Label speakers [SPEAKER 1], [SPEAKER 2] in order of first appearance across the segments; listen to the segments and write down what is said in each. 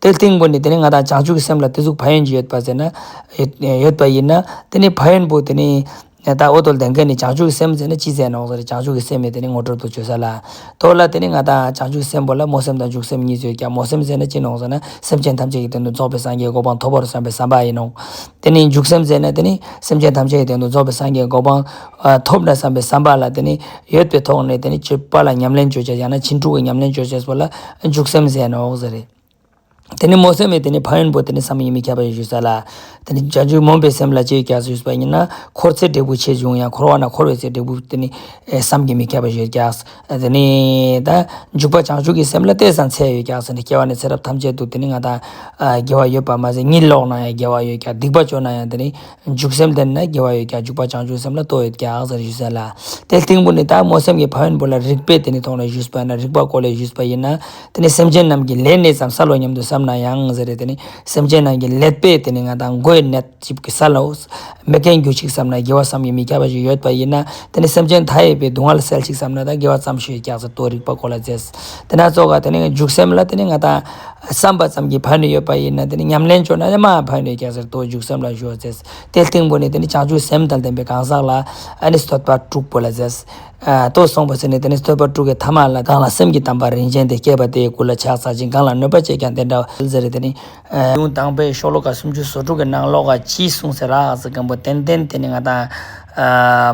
[SPEAKER 1] དེ་ལྟའི་སྒོ་ནས་དེ་ནི་ང་དང་བྱང་ཆུབ་ཀྱི་སེམས་ལ་དེ་གཟུགས་བག་ཡོན་གྱི་ཡོད་པ་ཟེར་ན། ཡོད་པ་ཡིན་ན། དེ་ནི་བག་ཡོན་པོ་དེ་ནི། ད་ཨོ་དོལ་ལྡན་མཁན་ནི་བྱང་ཆུབ་ཀྱི་སེམས་ཟེར་ན་ཅི་ཟེར་ནོ་ཟེར་བྱང་ཆུབ་ཀྱི་སེམས་མེད་དེ་ནི་ངོ་སྤྲོད་དུ་བྱོས་ས་ལ། དོལ་ལ་དེ་ནི་ང་དང་བྱང་ཆུབ་ཀྱི་སེམས་པོ་ལ་རྨོངས་སེམས་དང་འཇུག་སེམས་གཉིས་ཟོས་ཀྱང་རྨོངས་སེམས་ཟེར་ན་ཅི་ནོ་ཟེར་ན་སེམས་ཅན་ཐམས་ཅད་ཀྱི་དོན་དུ་རྫོགས་པའི་སངས་རྒྱས་གོ་འཕང་ཐོབ་པར་བསམ་པའི་བསམ་པ་ཡིན་ནོ། དེ་ནི་འཇུག་སེམས་ཟེར་ན་དེ་ནི་སེམས་ཅན་ཐམས་ཅད་ཀྱི་དོན་དུ་རྫོགས་པའི་སངས་རྒྱས་གོ་འཕང། ཐོབ་ནས་བསམ་པའི་བསམ་པ་ལ་དེ་ནི་ཡོད་པའི་ཐོག་ནས་དེ་ནི་སྤྱོད་པ་ལ་ཉམས་ལེན་བརྗོད་བྱ་ཡང་ན་ཕྱིན་དྲུག་གི་ཉམས་ལེན་བརྗོད་བྱ་ཞེས་པ་ལ་འཇུག་སེམས་ཟེར་ནའོ་ཟེར། དེ་ནི་མོ་སེམས་མེད་དེ་ནི་ཕ་ཡོན་པོ་དེ་ནི་བསམ་ཡས་མི་ཁྱབ་པ་ཡོད་ཞུ་ས་ལ། དེ་ནི་བྱང་ཆུབ་མོངས་པའི་སེམས་ལ་སྤྱོད་ཡུལ་གྱྀས་ཞུ་ས་པ་ཡིན་ན་འཁོར་ཚེ་འབྲས་བུ་ཆེ་ཆུང་ཡང་འཁོར་བ་ན་འཁོར་བའི་ཚེ་འབྲས་བུ་དེ་ནི་བསམ་གྱིས་མི་ཁྱབ་པ་ཡོད་གྱྀས་དེ་ནི་ད། འཇུག་པ་བྱང་ཆུབ་ཀྱི་སེམས་ལ་ལྟས་སམ་ཚད་ཡོད་གྱྀས་ནི་སྐྱེ་བ་ནས་ཚེ་རབས་ཐམས་ཅད་དུ་དེ་ནི་ང་དང། དགེ་བ་ཡོད་པར་མ་ཟད་གཉིད་ལོག་ན་ཡང་དགེ་བ་ཡོད་གྱྀས་སྡིག་པ་སྤྱོད་ན་ཡང་དེ་ནི་འཇུག་སེམས་དེ་ནི་དགེ་བ་ཡོད་ཀྱང་འཇུག་པ་བྱང་ཆུབ་སེམས་ལ་ལྟོ་ཡོད་ཀྱང་ཟེར་བཞུགས་ཟེར་ལ། དེའི་སྟེང་བུ་ནི་དག་མོ་སེམས་ཀྱི་ཕ་ཡོན་བུ་ལ་རིག་པས་དེ་ནི་མཐོང་ནས་བཞུགས་པས་ན་རིག་པ་གོ་ལས་བཞུགས་པ་ཡིན། དེ་ནི་སེམས་ཅན་རྣམས་ཀྱི་ལས་གནས་སམ་ས་ལོ་སྙམ་དུ་བསམ་ན་ཡང་ཟེར་རེ་དེ་ནི་སེམས་ཅན་རྣམས་ཀྱི་ལས་པས་དེ་ནི་ང་དང་མགོའི་ནད་ཅིག་གིས་ས་ལོ། མི་རྒན་རྒྱུ་ཞིག་བསམ་ན་དགེ་བ་བསམ་གྱིས་མི་ཁྱབ་པ་ཞིག་ཡོད་པ་ཡིན། དེ་ནི་སེམས་ཅན་མཐའ་ཡས་པའི་སྡུག་བསྔལ་སེལ་ཞིག་བསམ་ན་དགེ་བ་བརྩམས་ཞོས་ཀྱང་ཟེར་ཏོ་རིག་པ་གོ་ལ་མཛད། དེ་སྣ་ཚོགས་ཀ་དེ་ནི་འཇུག་སེམས་ལ་དེ་ནི་ང་དང། བསམ་པ་ཙམ་གྱིས་བར་ནི་ཡོད་པ་ཡིན་ན་དེ་ནི་ཉམས་ལེན་འབྱོར་ན་ཡང་མ་བར་ནི་སྐྱེ་ཟེར་ཏོ་འཇུག་སེམས་ལ་གཞོལ་ཟེར། དེ་སྟེང་པོ་ནི་དེ་ནི་བྱང་ཆུབ་སེམས་དང་ལྡན་པའི་གང་ཟག་ལ་ནི་བསྟོད་པ་དྲུག་པོ་ལ་ཟེར། ལྟོས་སོང་བ་ཟེར་ནི་དེ་ནི་བསྟོད་པ་དྲུག་གི་ཐ་མ་ལ་གང་ལ་སེམས་ཀྱི་དམ་པ་རིན་ཆེན་དེ་སྐྱེས་པ་དེའི་སྐུ་ལ་ཕྱག་འཚལ་ཅིང་གང་ལ་གནོད་པ་བྱེད་ཀྱང་དེ་འདྲ་བ་ལ་ཟེར་དེ་ནི། གཡུང་དྭངས་པའི་ཤོག་ལོ་ཀ་སུམ་ཅུ་སོ་དྲུག་གི་ནང་ཀློག་ག་གྱིས་གསུངས་ཟེར་ལགས་ཟེར་མཁན་པོ་ཏན་ཏན་དེ་ནི་ང་དང།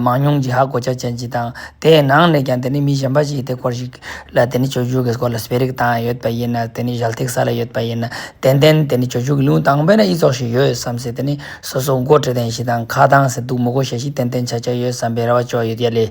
[SPEAKER 1] མང་ཉུང་ཇི་ཧ་གོ་ཆ་ཅན་ཅིག་དང་དེའི་ནང་ནས་ཀྱང་དེ་ནི་མི་གཞན་པ་ཞིག་གིས་དེ་སྐོར་ཞིག་ལ་དེ་ནི་ཆོས་ཕྱུགས་ཀྱི་སྐོར་ལ་སྤེལ་རེས་བཏང་ཡོད་པ་ཡིན་ན་དེ་ནི་ཞལ་ཐིགས་ས་ལ་ཡོད་པ་ཡིན་ན་ཏན་ཏན་དེ་ནི་ཆོས་ཕྱུགས་ཀྱི་གཡུང་དྭངས་པས་ན་ཨི་ཙོག་ཞིག་ཡོད་བསམ་ཟེར་དེ་ནི་སོ་སོ་མགོ་བྲེ་ལྡན་ཞིག་དང་ཁ་གདངས་ཟེར་འདུག་མོ་གོ་ཞལ་ཞིག་ཏན་ཏན་ཆགས་ཆགས་ཡོད་བསམ་པའི་ར་བ་ཅོག་ཡོད་ཡ་ལེ།